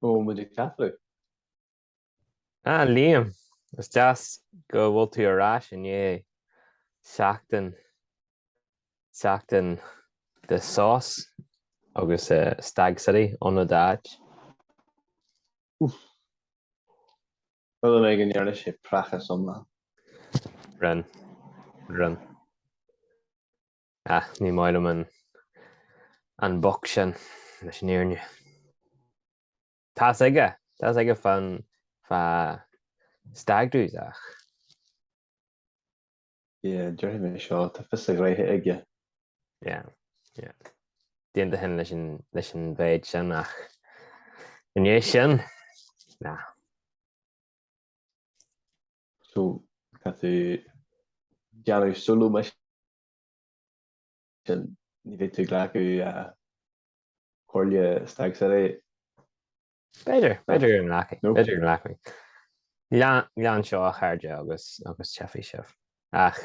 Rómhinic Catholic. Ah, Liam, is deas go bhfuil tú ar ais i ndiaidh seachtain, seachtain de sos agus Stag City in d'áit. Uff. Rud ar bith a ndéarfaidh sé, praghas iomlán. Run. Run. Ach ní maith liom an an boc sin, leis an fhírinne. Tá's aige, tá's aige fán fá stag do's ach. Yeah, déarfaidh mé seo, tá fios a ghnoithe aige. Yeah, yeah. D'aontóinn leis an leis an mhéid sin ach i ndiaidh sin ná. So tá tú déanamh solo mission ní bheidh tú glacadh comhairle Stag City. B'fhéidir, b'fhéidir go nglacfaidh, b'fhéidir go nglacfaidh. Lean seo a chairde agus agus teipfidh sibh. Ach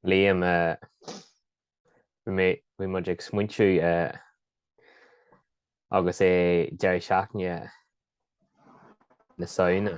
Liam bhí bhí muid ag smaointiú agus é deireadh seachtaine na Samhna.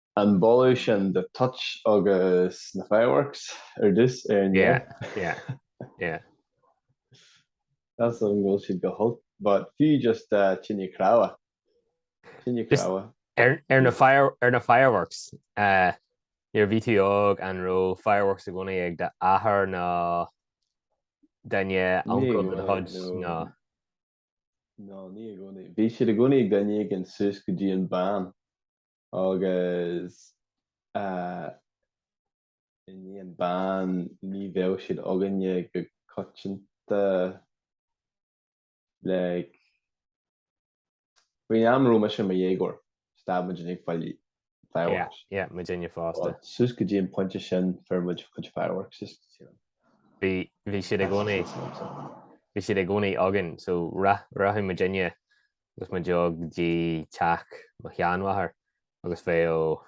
An boladh sin de toit agus na fireworks ar dtús ar an Yeah, deireadh. yeah, yeah. Measaim go bhfuil siad go holc but fiú just tine chnámha. Tine Just chnámha. ar, ar, na fire, ar na fireworks, eh, nuair a bhí tú óg an raibh fireworks i gcónaí ag d'athair nó duine, Ní uncail de do gcónaí, chuid nó. nó Nó ní i gcónaí. Bhí siad i gcónaí ag duine éigin suas go dtí an ban. agus i ndiaidh an ban, ní bheadh siad againne go coitianta like faoin am a raibh mise mo dhéagóir stad muid ag fáil fireworks. Yeah, yeah, muidinne fosta. Suas go dtí an pointe sin fuair muid chuid fireworks is Bhí bhí siad i gcónaí bhí siad i gcónaí againn so rachadh muidinne Agus muid go dtí teach mo sheanmháthar agus bheadh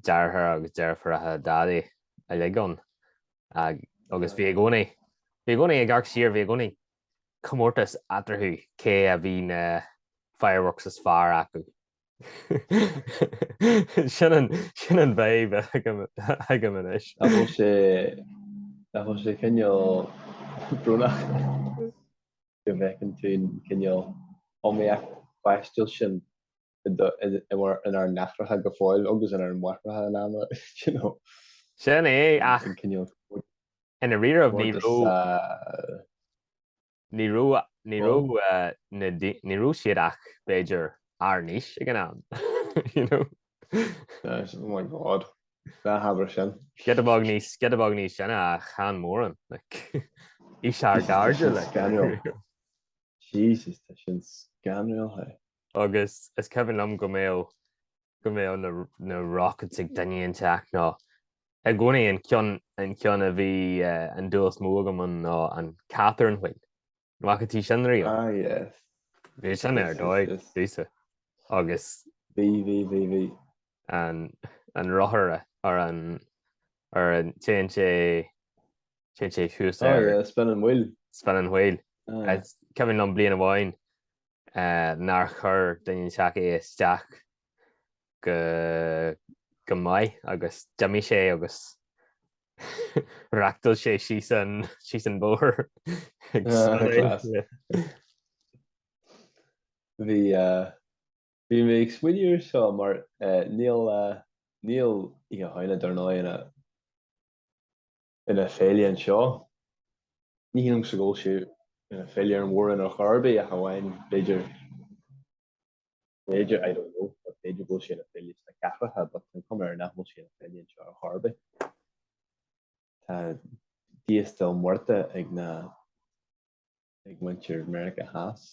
deartháir agus deirfiúracha Dhaidí uilig ann agus bhí i gcónaí, bhí i gcónaí, ag amharc siar bhí i gcónaí comórtas eatarthu cé a bhí na fireworks is fearr acu. Sin an fhadhb agam anois. Nach bhfuil sé, nach bhfuil sé cineál brónach go bhfeiceann tú an cineál iomaíocht pháistiúil sin inár n-aithreacha go fóill agus inár máithreacha in am, you know. Sin é, ach i ndáiríribh ní raibh. Ní raibh, ní raibh na, ní raibh siad ach, b'fhéidir, ár n-aois ag an am, you know. Oh my god, ná habair sin. Giota beag níos, giota beag níos sine chan mórán, like, aois ár gcairde, like. Jesus, tá sin scanrúil, hey. Agus is cuimhin liom go mbeadh, go mbeadh na, na rockets ag duine inteacht nó, I gcónaí an ceann an ceann a bhí an dúil is mó agam ann ná an Catherine Wheel. An bhfaca tú sin riamh? Ah yes. Bhí sin ar dóigh fosta agus. Bhí bhí bhí bhí. an an rothar ar an ar an téann sé téann sé thuas ar. Ah yeah spin an wheel. Spin an wheel. Cuimhin liom bliain amháin nár chuir duine inteacht é isteach go maith agus d'imigh sé agus reáchtáil sé síos an bóthar. Bhí mé ag smaoineamh ar seo mar níl oíche Shamhna dar ndóigh ina féile anseo. Ní shílim go bhfuil sé ina féile ar an Mhór-Roinn ar chor ar bith ach amháin b'fhéidir. B'fhéidir, I don't know, but b'fhéidir go bhfuil sé ina féile sna cathracha but an cuma air nach bhfuil sé ina féile anseo ar chor ar bith. Tá Día de los Muertos ag na ag muintir Mheiriceá Theas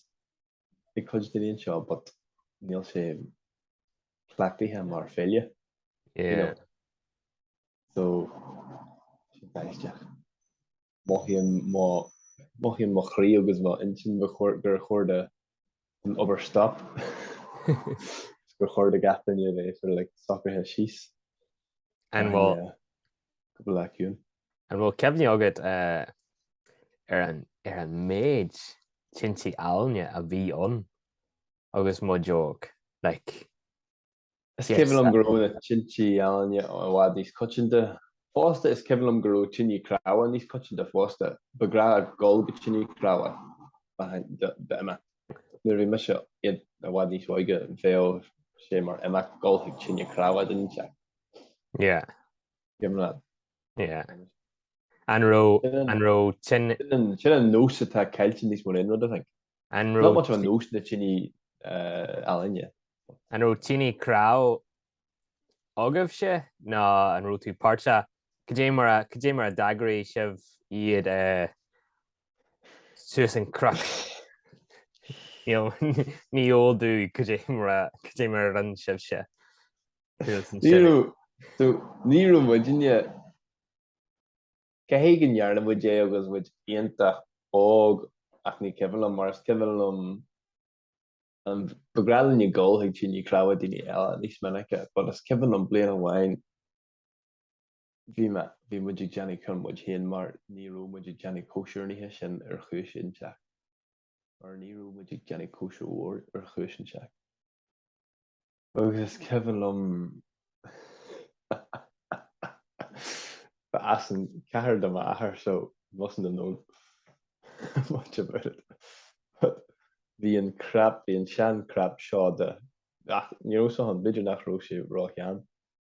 ag cuid daoine anseo but níl sé cleachtaithe mar féile. Yeah. You know? So sin aisteach. Mothaím mo mothaím mo chroí agus mo intinn gur chóir gur chóir don obair stop is gur chóir do gach duine a bheith sort of like socraithe síos An bhfuil an eh, cúpla lá ciúin. an bhfuil cuimhne agat eh, ar an ar an méid tintí ealaíne a bhí ann agus muid óg like Is cuimhin liom go raibh na tintí ealaíne i bhfad níos coitianta. Fosta, is cuimhin liom go raibh tintí cnámha níos coitianta fosta. Ba bhreá a dhul go tine chnámha duine inteacht. Nuair a bhí mise i bhfad níos óige, bheadh sé mar imeacht dhul chuig tine chnámha duine inteacht. Yeah. Cuimhin leat? Yeah. An raibh, an raibh tin... Sin an nós atá caillte níos mó ná aon rud, I think. An raibh. Not much of a notion that tintí ealaíne. An raibh tine chnámh agaibhse nó an raibh tú páirteach? Cad é mar a, cad é mar a d'eagraigh sibh iad suas an cnoc? Ní eol domh cad é mar a, cad é mar a rinne sibhse suas an seirbhís. Ní raibh, so, ní raibh muidinne. Caithfidh go ndearna muid é agus muid iontach óg ach ní cuimhin liom mar is cuimhin liom ba ghnáth linne dul chuig tine cnámha daoine eile níos minice but is cuimhin liom bliain amháin bhí mé bhí muid ag déanamh ceann muid féin mar ní raibh muid ag déanamh cóisir an oíche sin ar chúis inteacht. mar ní raibh muid ag déanamh cóisir mhóir ar chúis inteacht. Agus is cuimhin liom ba as an chathair do m'athair so mustn't have known much about it. But bhí an crap, bhí an sean crap seo de, ach ní raibh a fhios agam, b'fhéidir nach raibh sé róshean.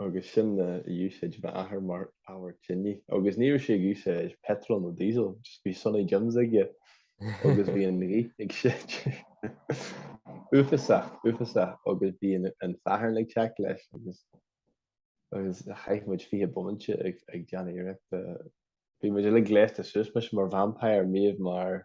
agus sin a d'úsáid m'athair mar ábhar tine agus ní raibh sé ag úsáid peitreal nó díosal just bhí Sunny Jims aige agus bhí an ghaoth ag séideadh uafásach uafásach agus bhí an fearthainn ag teacht leis agus agus chaith muid fiche bomaite ag ag déanamh iarrachta bhí muid uilig gléasta suas mise mar vampire Niamh mar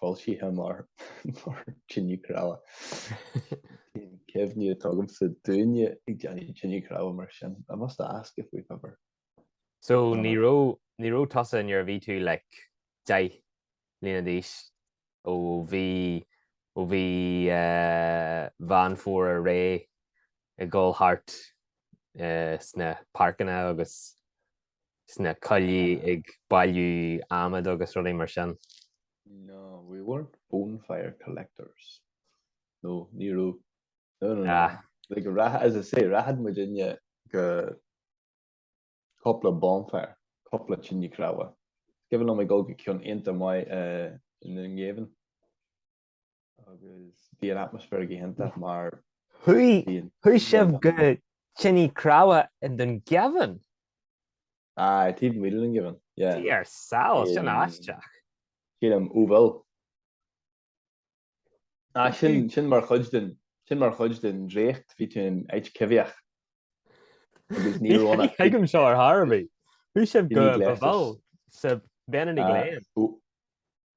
foilsithe mar thine cnámha. Níl aon chuimhne agamsa dúinne ag déanamh tine cnámha mar sin. I must ask if we've ever. So ní raibh tusa nuair a bhí tú like deich mbliana d'aois ó mhí ó mhí eh, Mheán Fómhair ar aghaidh ag gabháil thart eh, sna páirceanna agus sna coillí ag bailiú adhmad agus rudaí mar sin. No, we weren't bonfire collectors. No, ní raibh. No, no, no. Like, rath, as I say, rachadh muidinne go cúpla bonfire, cúpla tine cnámha. Is cuimhin liom ag dul go ceann iontach maith i nDún Geimhin. agus bhí an atmaisféar go hiontach mar Chuaigh sibh go tine cnámha i nDún Geimhin? Aye, taobh amuigh de Dún Geimhin, yeah. Bí ar shiúl, sin aisteach. Sílim, ó bhuel. Ah, sin, sin mar chuid den, sin mar chuid den draíocht, bhí tú in áit coimheach. Agus ní raibh ann Tuigim seo ar chor ar bith. Chuaigh sibh go Babhal, sa Benedy Glen.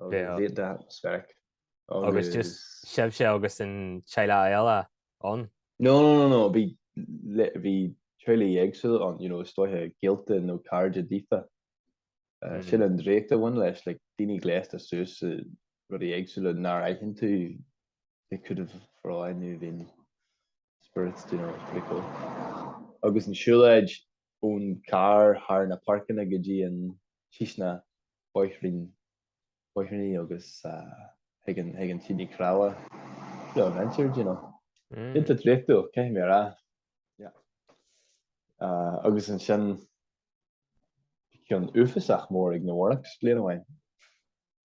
Bhí de speic agus just sibhse agus an teaghlach eile ann? No, no, no, no, bhí teaghlaigh éagsúla ann, you know, is dóiche gaolta nó cairde daofa. Sin an draíocht a bhain leis, like, daoine gléasta suas i rudaí éagsúla nach bhfeiceann tú, they could have for all I knew been spirits, do you know, it's pretty cool. Agus an siúlóid, ón gcarr thar na páirceanna go dtí an síos na bóithrín, bóithríní agus chuig an chuig an tine chnámha. Bit of adventure, do you know? Iontach draíochtúil, caithfidh mé a rá. Yeah. Agus ansin bhí ceann uafásach mór ag na Warwick's bliain amháin.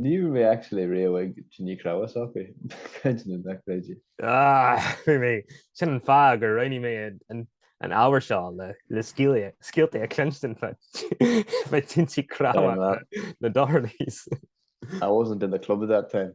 Ní raibh mé actually riamh ag tine chnámha acu, caint na n-eacréidí. Ah, fuair mé sin an fáth gur roghnaigh mé an ábhar seo le scéalta a chluinstin faoi tinte cnámha na Dohertys. I wasn't in the club at that time.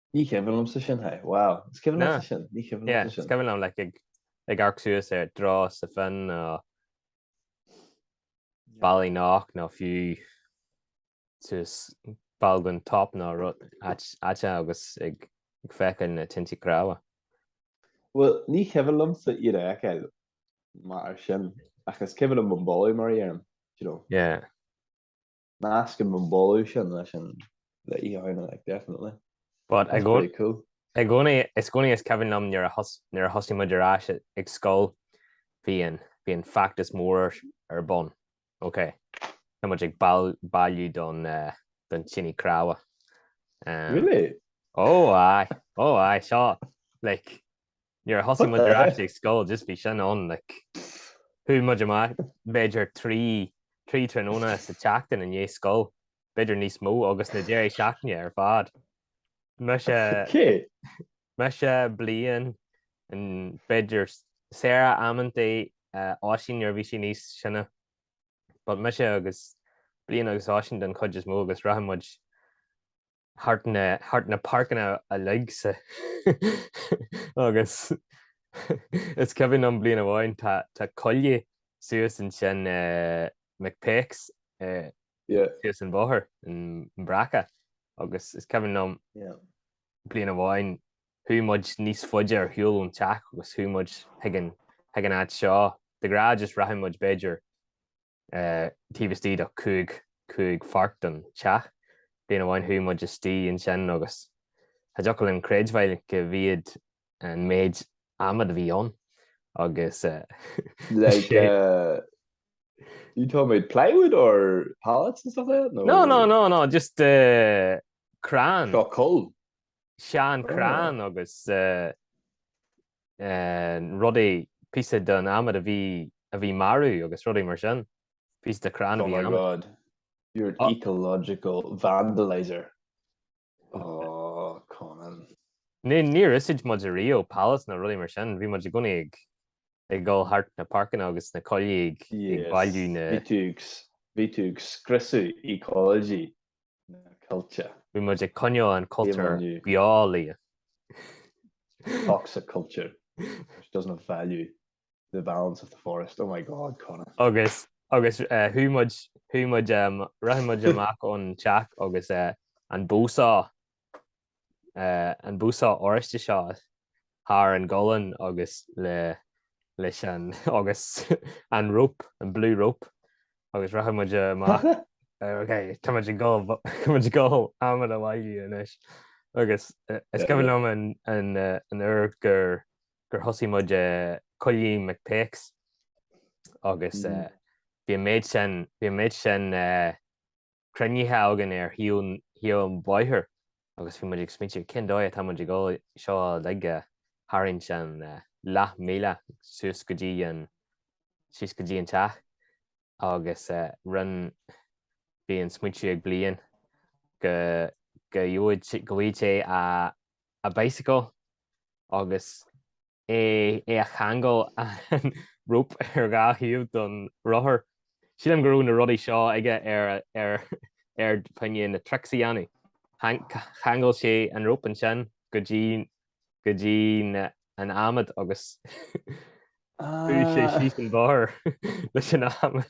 Ní cuimhin liomsa sin hé. Wow. Is cuimhin liomsa sin. Ní cuimhin liomsa sin. Is cuimhin liom like, ag, ag amharc suas ar drá sa fin nó Ballyknock nó fiú suas balgan top nó rud aite agus ag, ag feiceáil na tinte cnámha. Bhuel, ní cuimhin liomsa iad a fheiceáil mar sin ach is cuimhin liom an boladh mar a déarfainn, do you know. Yeah. Nascaim an boladh sin leis an bheith í ann, like, definitely. But i gcónaí, i gcónaí is cuimhin liom nuair a thosaigh muid ar ais ag scoil, bhí an, bhí an feachtas mór ar bun, ok, tá muid ag bailiú don, don tine chnámha. Really? Ó, aye, ó, aye, seo, like, Nuair a thosaigh muid ar ais ag scoil just bhí sin ann like chuaigh muid amach b'fhéidir trí trí tráthnóna sa tseachtain i ndiaidh scoil, b'fhéidir níos mó agus na deireadh seachtaine ar fad. Mise Cé? mise bliain an b'fhéidir Sarah amantaí uh, Oisín nuair a bhí sí níos sine but mise agus bliain agus Oisín den chuid is mó agus rachadh muid thart na thart na páirceanna uilig sa agus is cuimhin liom bliain amháin tá tá coille suas ansin McPeake's suas an bóthar an Bhreaca agus is cuimhin liom bliain amháin chuaigh muid níos faide ar shiúl ón teach agus chuaigh muid chuig an chuig an áit seo de ghnáth just rachadh muid b'fhéidir taobh istigh de chúig chúig pháirc den teach. Bliain amháin chuaigh muid istigh ansin agus cha dtiocfadh linn creidbheáil go bhíod an méid adhmad a bhí ann agus like, uh, you told me plywood or pallets and stuff like that? No, no, no, no, no just uh, crann. Seo coill. Sean oh. crann agus uh, rud é, píosa den adhmad a bhí, a bhí marbh agus rudaí mar sin. Píosa de chrann a bhí in adhmad. Oh my God. You're an ecological vandalizer. Oh, Conan. Níor úsáid muid ariamh pallets nó rudaí mar sin. Bhí muid i gcónaí ag, ag dul thart na páirceanna agus sna coillí ag, ag bailiú sna. Bhí tú ag, bhí tú ag scriosadh ecology na coillte. Bhí muid ag coinneáil an cultúr beo, yeah. Toxic culture which doesn't have value to the balance of the forest. Oh my God, Conan. Agus, agus uh, chuaigh muid, chuaigh muid, um, rith muid amach ón teach agus uh, an bow saw an bow saw oráiste seo thar an ghualainn agus leis an agus an rope, an blue rope agus rachadh muid amach ok tá muid ag dul tá muid ag dul adhmad a bhailiú anois agus is cuimhin liom an uair gur gur thosaigh muid i gcoill Mhic Péacs agus bhí an méid sin bhí an méid sin cruinnithe againn ar thaobh an bhóthair agus bhí muid ag smaointiú, cén dóigh atá muid ag dul seo uilig a tharraingt an leath míle suas go dtí an, síos go dtí an teach agus rinn, bhí an smaointiú ag Blaine go gheobhad, go bhfaighead sé a bicycle agus. eh a cheangal an rope ar dhá thaobh don rothar. Sílim go raibh na rudaí seo aige ar ar ar choinne tricks a dhéanamh. Cheangail sé an rope ansin go dtí go dtí na an adhmad agus chuaigh sé síos an bóthar leis an adhmad.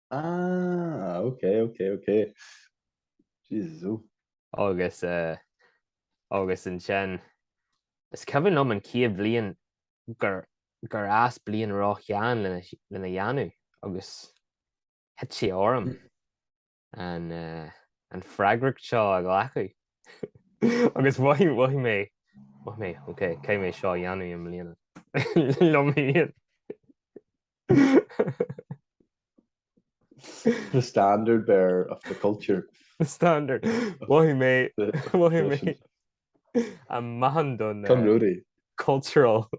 Ah, ok, ok, ok. Jesus, oh. Agus, eh, agus ansin, is cuimhin liom an chéad bhliain gur, gur fhás Blaine róshean lena, lena dhéanamh agus thit sé orm an, eh, an freagracht seo a ghlacadh. Agus mhothaigh, mhothaigh mé, mhothaigh mé, ok, caithfidh mé seo a dhéanamh i mbliana. Liom féin. The standard bearer of the culture. The standard. Mhothaigh mé, mhothaigh mé an meáchan don Come eh, Rudy. cultural,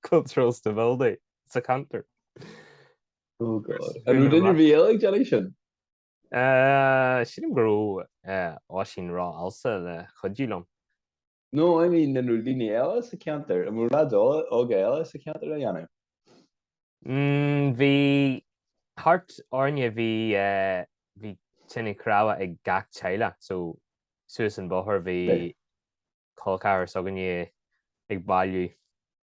cultural stability sa cheantar. Oh god. An raibh duine ar bith eile ag déanamh sin? Eh, Sílim go raibh eh, Oisín Rath also le cuidiú liom. nó i ndiaidh na ndaoine eile sa cheantar, i mbráid óga eile sa cheantar a dhéanamh? Bhí thart orainne, bhí, bhí tine chnámha ag gach teaghlach so suas an bóthar bhí col ceathrar s'againne ag bailiú.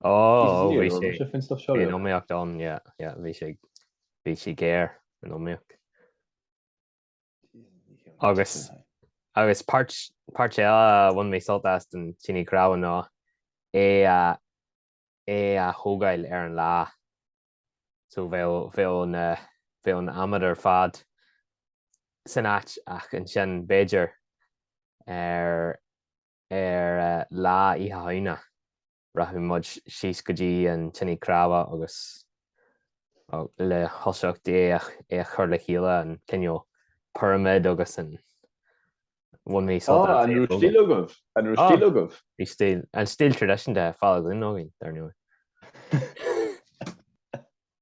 Ó, ó, bhí an iomaíocht ann, bhí sé, bhí sé géar an iomaíocht. Agus, agus páirt, páirt eile a bhain mé sult as den tine chnámha ná é a, é a thógáil ar an lá. So bheadh, bheadh na, bheadh an adhmad ar fad san áit ach ansin b'fhéidir ar, Ar lá Oíche Shamhna, rachadh muid síos go dtí an tine chnámha agus le toiseacht é a chur le chéile, an cineál pirimid agus bhain mé sult as é a fhoghlaim. An raibh stíl agaibh? An raibh stíl agaibh? Bhí stíl, an stíl tradisiúnta, foghlamtha againn, dar ndóigh.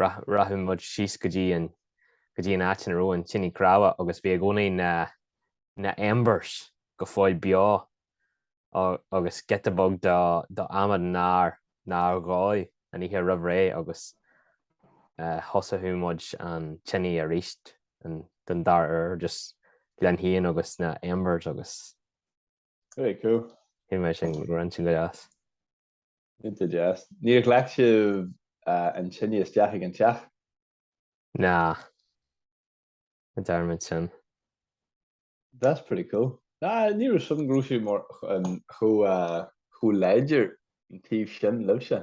Rachadh muid síos go dtí go dtí an áit ina raibh an tine chnámha agus bhí i gcónaí na embers go fóill beo agus giota beag d'adhmad nár nár dhóigh an oíche roimh ré agus thosódh muid an tine arís den dara huair just lena shuíonn agus na embers agus. Very cool. Bhí mé sin go raibh an tine go deas. Cinnte deas. Níor ghlac sibh an tine isteach ag an teach? Ná. Ní dhearn muid sin. That's pretty cool. Ná, ní raibh a fhios agam go raibh sé mar chomh láidir an taobh sin libhse.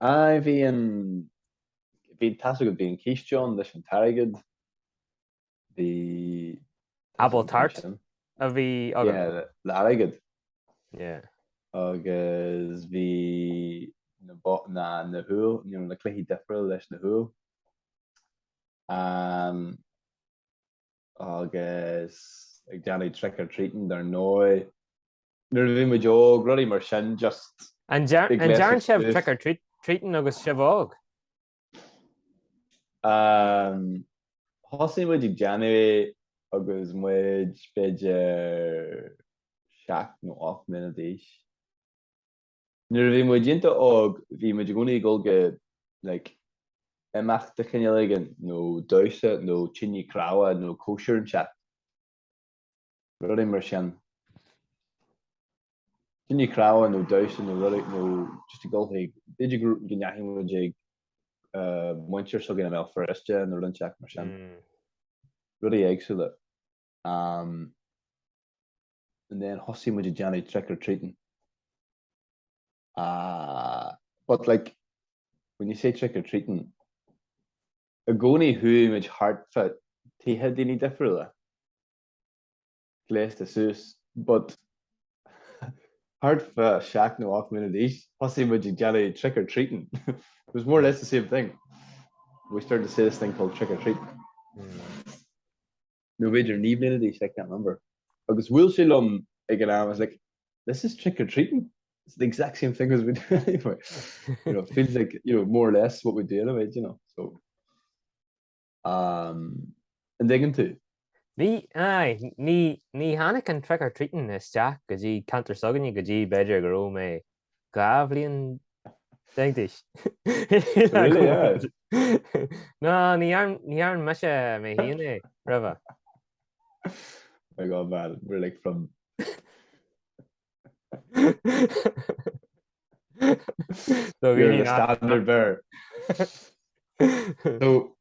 Aye, bhí an, bhí tá a fhios agat, bhí an císte ann leis an t-airgead, bhí... Apple tart a bhí agad? Yeah, le airgead. Yeah. Agus bhí na, na, na húlla, you know, na cluichí difriúil leis na húlla. Um, agus ag déanamh trick or treating dar ndóigh nuair a bhí muid óg, rudaí mar sin just. An ndearn sibh trick or treating agus sibh óg? Thosaigh muid ag déanamh é agus muid b'fhéidir seacht nó ocht mbliana d'aois. Nuair a bhí muid iontach óg, bhí muid i gcónaí ag dul go, like, imeacht de chineál éigin, nó damhsa, nó tine chnámha, nó cóisir inteacht, rudaí mar sin. Tine chnámha nó damhsa nó rudaí, nó just ag dul chuig, b'fhéidir go, go ndeachaigh muid ag muintir s'againn i mBéal Feirste nó rud inteacht mar sin. Rudaí éagsúla. Um and then thosaigh muid ag déanamh trick or treating. Uh but like when you say trick or treating i gcónaí chuaigh muid thart fá tithe daoine difriúla, gléasta suas, but thart fá seacht nó ocht mbliana d'aois thosaigh muid ag déanamh trick or treating. It was more or less the same thing. We started to say this thing called trick or treating. nó b'fhéidir naoi bhliana d'aois, like, I can't remember, agus bhuail sé liom ag an am, I was like, this is trick or treating, it's the exact same thing as we do anyway, you know, feels like, you know, more or less what we do anyway, you know, so, um, an dtuigeann tú? Ní, aye, ní, ní tháinig an trick or treating isteach go dtí ceantar s'againne go dtí b'fhéidir go raibh mé dhá bhliain déag d'aois. Really, yeah. Ná, ní dhearna mise mé féin é, roimhe. My God, man, we're like from... You're a standard bearer. So,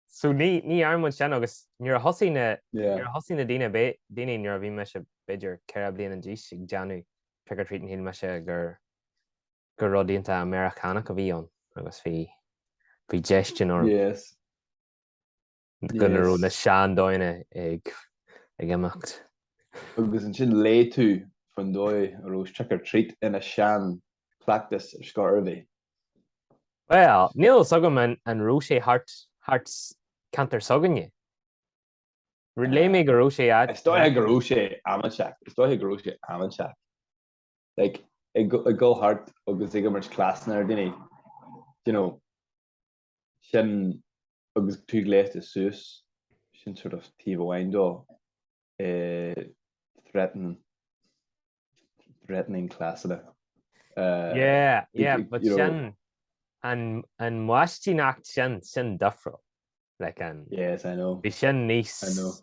So ní ní dhearna muid sin agus nuair a thosaigh na nuair a thosaigh na daoine daoine nuair a bhí mise b'fhéidir ceithre bliana d'aois ag déanamh trick or treat shíl mise gur gur rud iontach Ameiriceánach a bhí ann agus bhí bhí déistin orm Yes go na raibh Yes na seandóigheanna ag ag imeacht. Agus ansin léigh tú faoin dóigh a raibh trick or treat ina sean cleachtas ar scor ar bith. Bhuel, níl fhios agam an an raibh sé thart thart sa cheantar s'againne. Léigh mé go raibh sé áit. Is dóigh go raibh sé am inteacht. Like, ag ag dhul thart agus ag imirt cleasanna ar dhaoine, d'you know. sin agus tú gléasta suas, sin sort of taobh amháin dó eh, threatening, threatening cleasanna. Uh, yeah, yeah, but you know, sin an an maistíneacht sin sin difriúil le an. Yes, I know. Bhí sin níos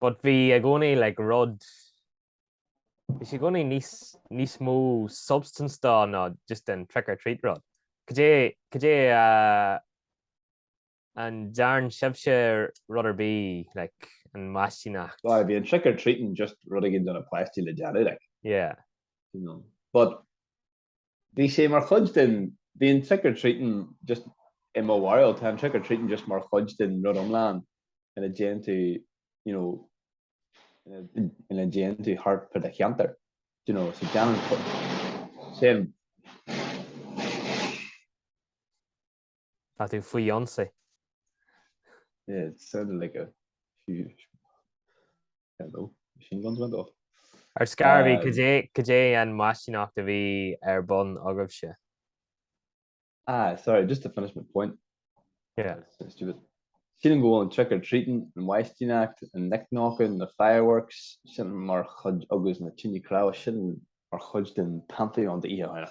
But bhí i gcónaí like rud, bhí sé i gcónaí níos, níos mó substance dó ná just an trick or treat rud. Cad é, cad é a, an dtearn sibhse rud ar bith like an mhaistíneacht? Bhuel, bhí an trick or treating just rud éigin do na páistí le déanamh like. Yeah. You know. But bhí sé mar chuid den, bhí an trick or treating just, i mo bharúil, tá an trick or treating just mar chuid den rud iomlán ina dtéann tú you know ina dtéann tú thart fá do cheantar do you know so déanann sé an Tá tú faoi ionsaí. Sounded like a huge load of machine guns went off. Ar scor ar bith, cad é an mhaistíneacht a bhí ar bun agaibhse? Ah, sorry, just to finish my point. Yeah. That's stupid. Sílim go bhfuil an trick or treating, an mhaistíneacht, an knick-knocking, na fireworks, sin mar chuid agus na tine cnámh, sin mar chuid den Pantheon d'Oíche Shamhna.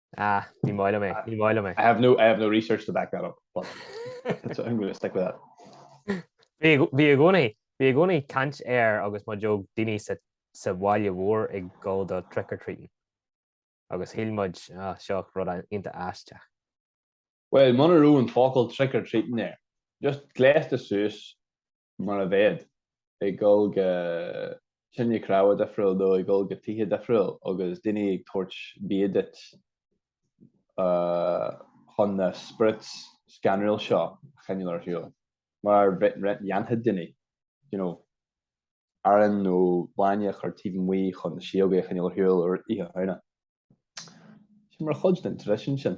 Ah, ní maith liom é, ní maith liom é. I have no, I have no research to back that up, but so I'm going to stick with that. Bhí bhí i gcónaí, bhí i gcónaí caint air agus muid óg, daoine sa sa bhaile mhór ag dul do trick or treating agus shíl muid ah seo rud iontach aisteach. Bhuel, muna raibh an focal trick or treating air, just gléasta suas mar a bheadh ag dul go tine cnámha difriúil nó ag dul go tithe difriúil agus daoine ag tabhairt bia duit chun na spirits scanrúil seo a choinneáil ar shiúl, mar a dhéanfadh daoine you know arán nó bainne a chur taobh amuigh chun na sióga a choinneáil ar shiúl ar Oíche Shamhna. Sin mar chuid den traidisiún sin.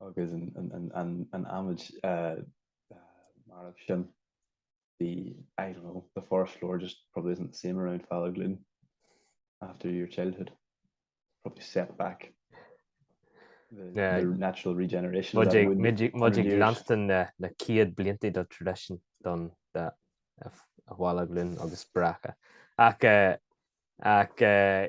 agus an adhmaid marbh sin bhí I don't know the forest floor just probably isn't the same around Fala Gloom after your childhood probably set back the, yeah. the natural regeneration Mudig Lanston na na cíad blianta do tradition don a Fala Gloom agus bracha ach eh, ach eh,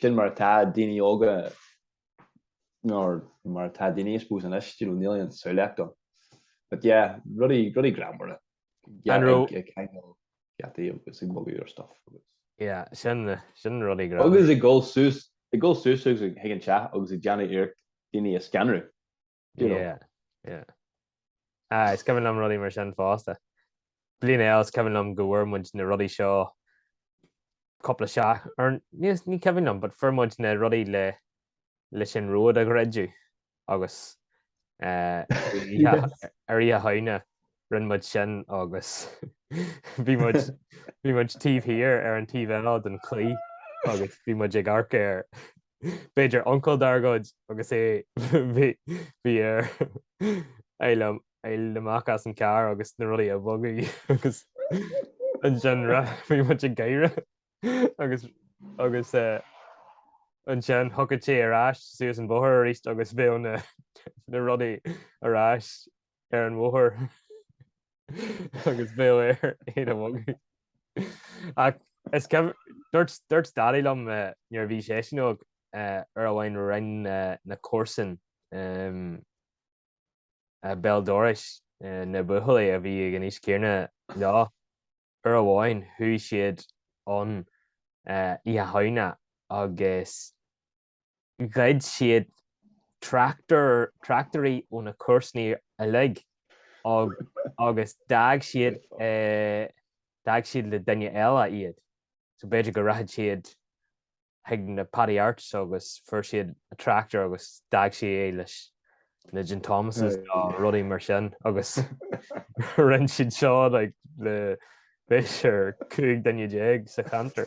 sin mar atá daoine óga, nó mar atá daoine I suppose anois, you know, níl aon samhlaíocht acu. But yeah, rudaí, rudaí greannmhara An raibh? ag ceangal geataí agus ag bogadh ar stuff agus. Yeah, sin, sin rudaí greannmhara. Agus ag dul suas, ag dul suas agus ag, chuig an teach agus ag déanamh iarracht daoine a scanradh. you know. Yeah, yeah. Ah, is cuimhin liom rudaí mar sin fosta. Bliain eile is cuimhin liom go bhfuair muid na rudaí seo cúpla seach, ar níos ní cuimhin liom, but fuair muid na rudaí le leis an ród a dhruideadh agus eh, ar oíche ar oíche Shamhna rinne muid sin agus bhí muid bhí muid taobh thiar ar an taobh eile den chlaí agus bhí muid ag amharc ar b'fhéidir uncail dár gcuid agus é bhí bhí air fháil fháil amach as an charr agus na rudaí a bhogadh agus ansin bhí muid ag gáire agus agus ansin thiocfadh sé ar ais suas an bóthar arís agus bheadh na na rudaí ar ais ar an mbóthar agus bheadh air iad a bhogadh. Ach is cibé, dúirt, dúirt Daidí liom uh, nuair a bhí seisean óg uh, uair amháin rinn uh, na comharsana um, uh, béal dorais uh, na buachaillí a bhí ag an aois chéanna leo uair amháin chuaigh siad an uh, Oíche Shamhna agus ghoid siad tractairí ó na comharsanaí uilig agus d'fhág siad d'fhág siad le duine eile iad. So b'fhéidir go rachadh siad chuig na Paddy Arts agus fuair siad a tractor agus d'fhág siad é leis le Jim Thomas nó rudaí mar sin agus rinn siad seo le b'fhéidir cúig duine déag sa cheantar.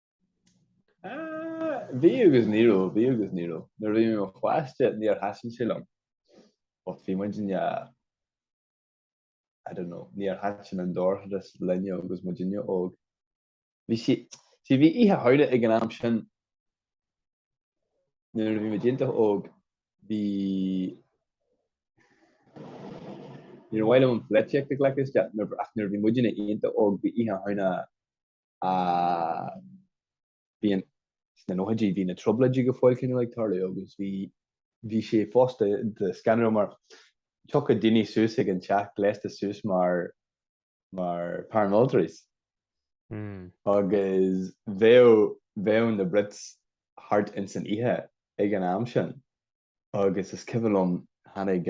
Bhí agus ní raibh, bhí agus ní raibh. Nuair a bhí mé i mo pháiste níor thaitin sé liom. But bhí muid i ndiaidh, I don't know, níor thaitin an dorchadas linne agus muid óg. Bhí sí, sí, bhí oíche Shamhna ag an am sin nuair a bhí muid iontach óg, bhí, níor mhaith liom an pholaitíocht a ghlacadh isteach nuair, ach nuair a bhí muidne iontach óg bhí oíche shamhna sna nóchaidí bhí na trioblóidí go fóill cineál ag tarlú agus bhí sé fosta scanrúil mar thiocfadh daoine suas ag an teach gléasta suas mar paramilitaries agus bheadh na Brits thart ins an oíche ag an am sin agus is cuimhin liom tháinig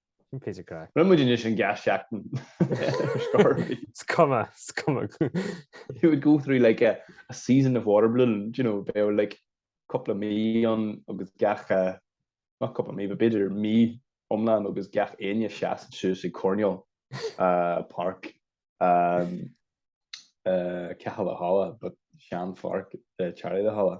Rinne muid anois gach seachtain ar scor. Is cuma, is cuma. You would go through like a a season of water balloon, do you know, bheadh like cúpla mí ann agus gach, not cúpla mí, but b'fhéidir mí iomlán agus gach éinne ina seasamh suas ag coirnéal páirc Tí Chulainn, but sean-pháirc Tí Chulainn.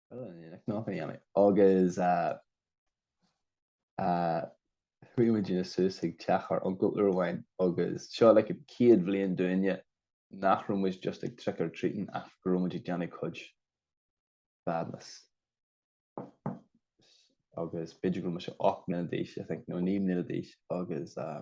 agus chuaigh muidne suas ag teach ár n-uncail uair amháin agus seo an chéad bhliain dúinn nach raibh muid just ag trick or treating ach go raibh muid ag déanamh cuid badness. agus b'fhéidir go raibh mise 8 mbliana d'aois I think nó naoi mbliana d'aois agus uh,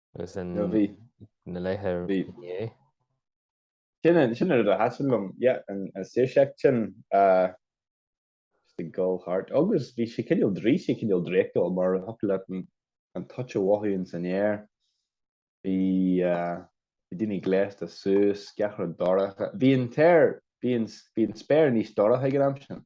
Agus in No, bhí. na laethe Bhí. inné. Sin an, sin an rud a thaitn liom, yeah, an, an saoirseacht sin, ah, just a ghabháil thart. Agus bhí sé cineál draoi, sé cineál draíochtúil mar a thiocfadh leat an, an toit a mhothú ins an aer. Bhí, ah, bhí daoine gléasta suas, gach rud dorcha. Bhí an t-aer, bhí an, bhí an spéir níos dorcha ag an am sin.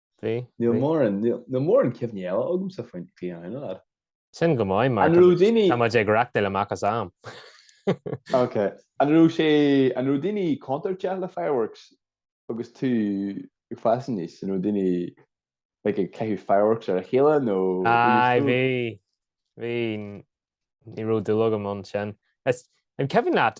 Bhí. Níl mórán, níl mórán cuimhní eile agamsa faoin Fianna Fáil. Sin go maith mar tá muid ag reáchtáil amach as am. Ok. An raibh sé, an raibh daoine contúirteach le fireworks agus tú ag fás aníos? An raibh daoine like ag caitheamh fireworks ar a chéile nó Aye, bhí, bhí, ní raibh dúil agam ann sin. Is, an cuimhin leat,